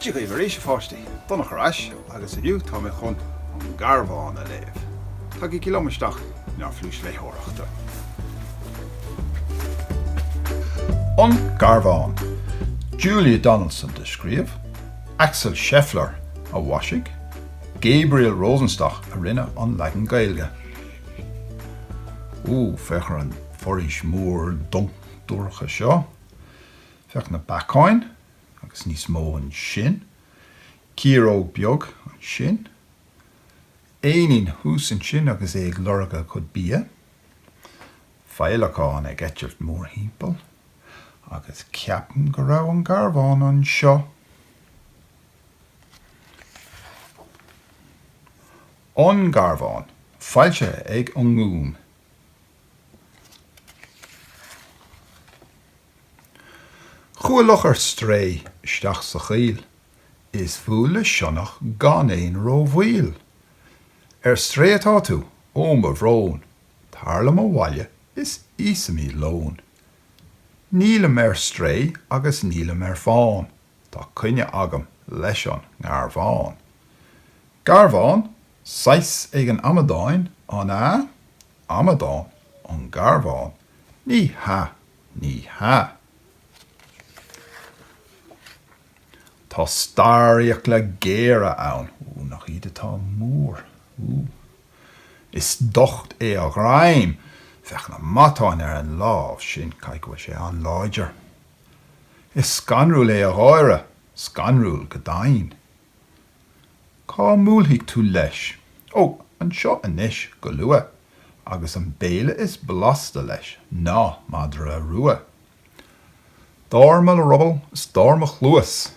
Dia dhaoibh arís a pháistí! Donach ar ais agus inniu tá mé chun An Garbhán a léamh. Tagaigí liom isteach in ár phluais léitheoireachta. An Garbhán. Julia Donaldson a scríobh, Axel Scheffler a mhaisigh. Gabriel Rosenstock a rinne an leagan Gaeilge. Ooh, féach ar an bhforaois mhór dubh dorcha seo. Féach na beacáin agus níos mó ansin. Ciaróg beag ansin. Éinín thuas ansin agus é ag lorg a chuid bia. Féileacán ag eitilt mórthimpeall. Agus ceapaim go raibh an garbhán anseo. An Garbhán, foilsithe ag an nGúm. Chuaidh luch ar strae isteach sa choill Is bhuail le sionnach gan aon ró-mhoill. Ar strae atá tú? Ó mo bhrón! Tar liom abhaile is íosfaimid lón. Nílim ar strae agus nílim ar fán. Tá coinne agam leis an nGarbhán. Garbhán? Saghas éigin amadáin, an ea? Amadán? An Garbhán? Ní hea, ní hea. Tá starrfhiacla le géire ann. Ó, nach iad atá mór! Ó! Is docht é a ghreim. Féach na matáin ar an lámh sin, caithfidh go bhfuil sé an-láidir. Is scanrúil é a gháire, scanrúil go deimhin. Cá mbuailfidh tú leis? Ó, anseo anois, go luath, agus an béile is blasta leis ná madra rua. Dar mo ruball is dar mo chluas,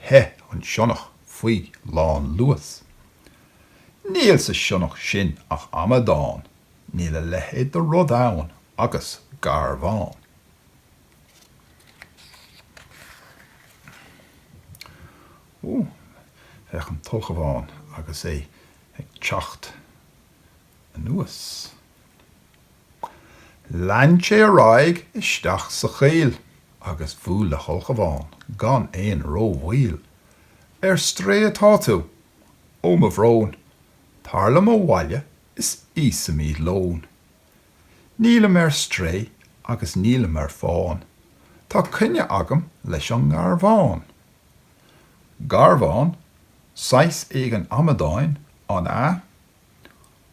theith an sionnach faoi lánluas. Níl sa sionnach sin ach amadán, níl a leithéid de rud ann agus garbhán. Féach an t-ulchabhán agus é ag teacht anuas. Lean sé ar aghaidh isteach sa choill agus bhuail le hulchabhán gan aon ró-mhoill. Ar strae atá tú! Ó mo bhrón! Tar liom abhaile is íosfaimid lón. Nílim ar strae agus nílim ar fán, tá coinne agam leis an nGarbhán. Garbhán, Saghas éigin amadáin, an ea?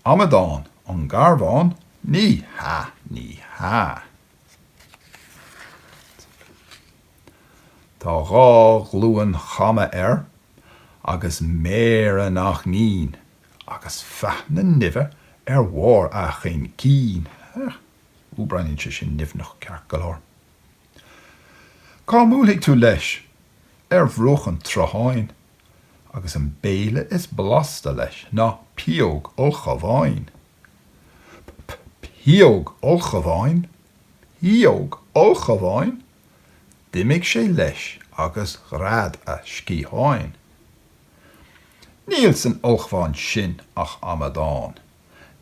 Amadán, An Garbhán? Ní hea, ní hea. Tá dhá ghlúin chama air agus méara nach mín Agus faithne nimhe ar bharr a chaincín, heach, ú breathnaíonn sé sin nimhneach ceart go leor. Cá mbuailfidh tú leis? Ar bhruach an tsrutháin, agus an béile is blasta leis ná pióg ulchabháin. P-p-pióg ulchabháin? Pióg ulchabháin? D'imigh sé leis agus ghread a sciatháin. Níl san ulchabhán sin ach amadán.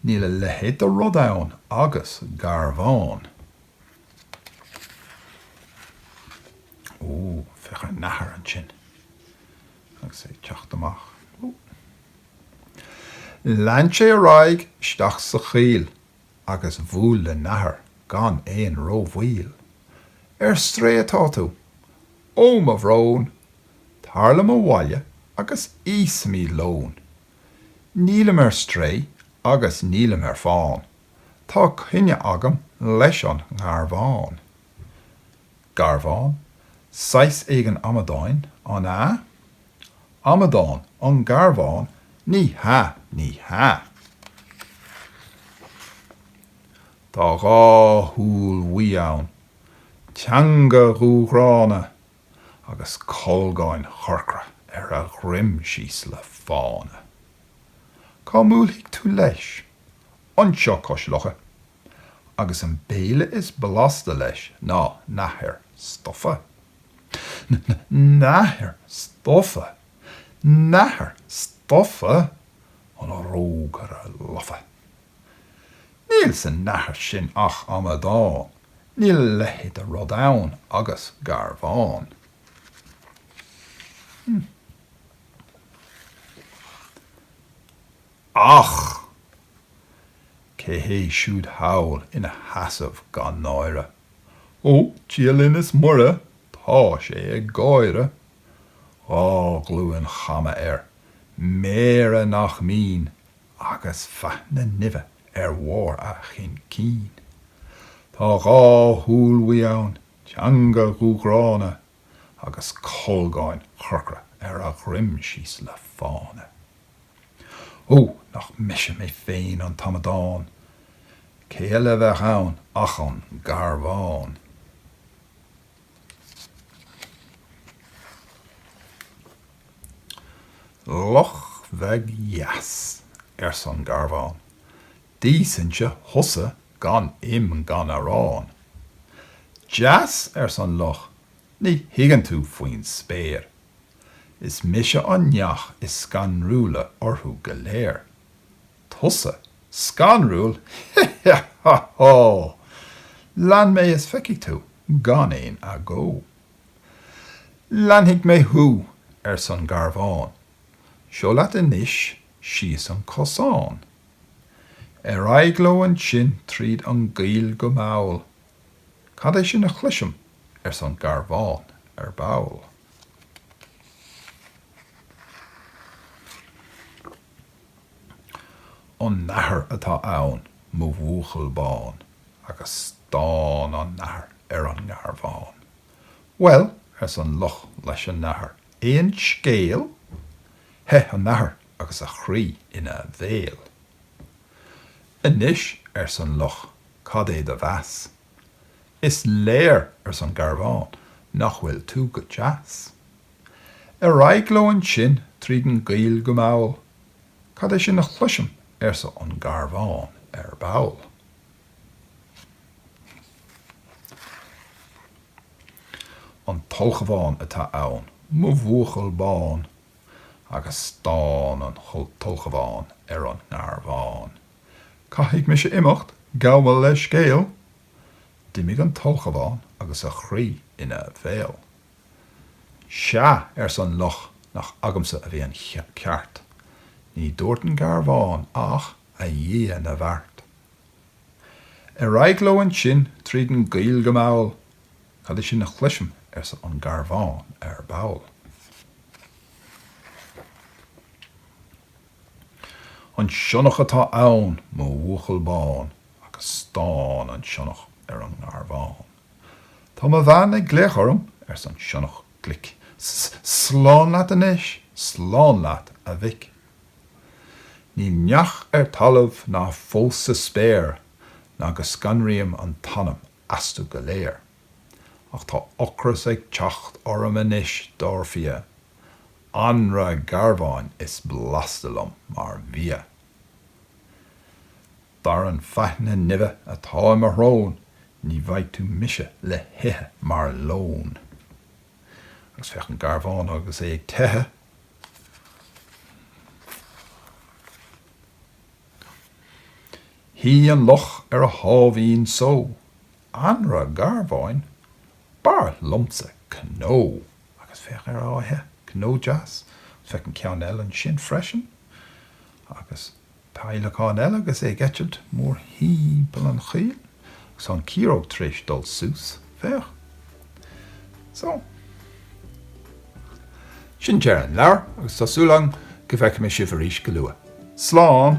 Níl a leithéid de rud ann agus garbhán. Ó, féach ar Nathair ansin agus é ag teacht amach. Ó! Lean sé ar aghaidh isteach sa choill agus bhuail le Nathair gan aon rómhoill. Ar strae atá tú! Ó mo bhrón, tar liom abhaile agus íosfaimid lón. Nílim ar strae agus nílim ar fán, tá coinne agam leis an nGarbhán. Garbhán, Saghas éigin amadáin, an ea? Amadán, An Garbhán, Ní hea, ní hea. Tá dhá shúil bhuí ann. teanga dhúghránna agus colgáin chorcra ar a dhroim síos le fána. Cá mbuailfidh tú leis? Anseo cois locha. Agus an béile is blasta leis ná nathair stofa. N-n-nathair stofa! Nathair stofa? An rógaire lofa! Níl sa nathair sin ach amadán, níl a leithéid de rud ann agus garbhán. Ach cé hé siúd thall ina sheasamh gan náire? Ó, Dia linn is Muire, tá sé ag gáire. Dhá ghlúin chama air, méara nach mín, agus faithní nimhe ar bharr a chaincín. Tá dhá shúil bhuí ann, teanga dhúghránna, agus colgáin chorcra ar a dhroim síos le fána. Ó, nach mise mé féin an t-amadán! Cé eile a bheadh ann ach an Garbhán! Luch bheag dheas, arsa an Garbhán, d'íosfainn-se thusa gan im gan arán. Deas, arsa an Luch, ní thuigeann tú faoin spéir. Is mise an neach is scanrúla orthu go léir. Tusa? Scanrúil? Hé-hé-há-há! Lean mé is feicfidh tú, gan aon agó. Leanfaidh mé thú, arsa an Garbhán. Seo leat anois síos an cosán. Ar aghaidh leo ansin tríd an gcoill go mall. Cad é sin a chloisim? arsa an Garbhán ar ball. An nathair atá ann mo bhuachaill bán agus stán an nathair ar an nGarbhán. Bhuel, arsa an luch leis an nathair, aon scéal? Theith an nathair agus a chroí ina bhéal. Anois, arsa an luch, cad é do mheas? Is léir, arsa an Garbhán, nach bhfuil tú go deas. Ar aghaidh leo ansin tríd an gcoill go mall. Cad é sin a chloisim, arsa an Garbhán ar ball. An t-ulchabhán atá ann, mo bhuachaill bán. Agus stán an t-ulchabhán ar an nGarbhán. Caithfidh mise imeacht, gabh mo leithscéal. D'imigh an t-ulchabhán agus a chroí ina bhéal. Sea, arsa an luch, nach agamsa a bhí an ceart. Ní dúirt an Garbhán ach, A Dhia na bhFeart! Ar aghaidh leo ansin tríd an gcoill go mall. Cad é sin a chloisim, arsa an Garbhán ar ball. An sionnach atá ann, mo bhuachaill bán, agus stán an sionnach ar an nGarbhán. Tá mo bhean ag glaoch orm, arsa an sionnach glic. Slán leat anois, slán leat, a mhic. Níl neach ar talamh ná fós sa spéir ná go scanraím an t-anam astu go léir. Ach tá ocras ag teacht orm anois, dar fia. Anraith garbháin is blasta liom mar bhia. Dar an faithne nimhe atá i mo shrón ní bhfaighidh tú mise le hithe mar lón. Agus féach an Garbhán agus é ag teitheadh. Shuigh an luch ar a sháimhín só. Anraith Garbháin? B'fhearr liomsa cnó. Agus féach air á ithe, cnó deas. Agus féach an ceann eile ansin freisin. Agus. Peidhleacán eile agus é ag eitilt mórthimpeall an choill agus an ciaróg tar éis dul suas. Féach. So. Sin deireadh an leabhair agus tá súil agam go bhfeicfidh mé sibh arís go luath. Slán!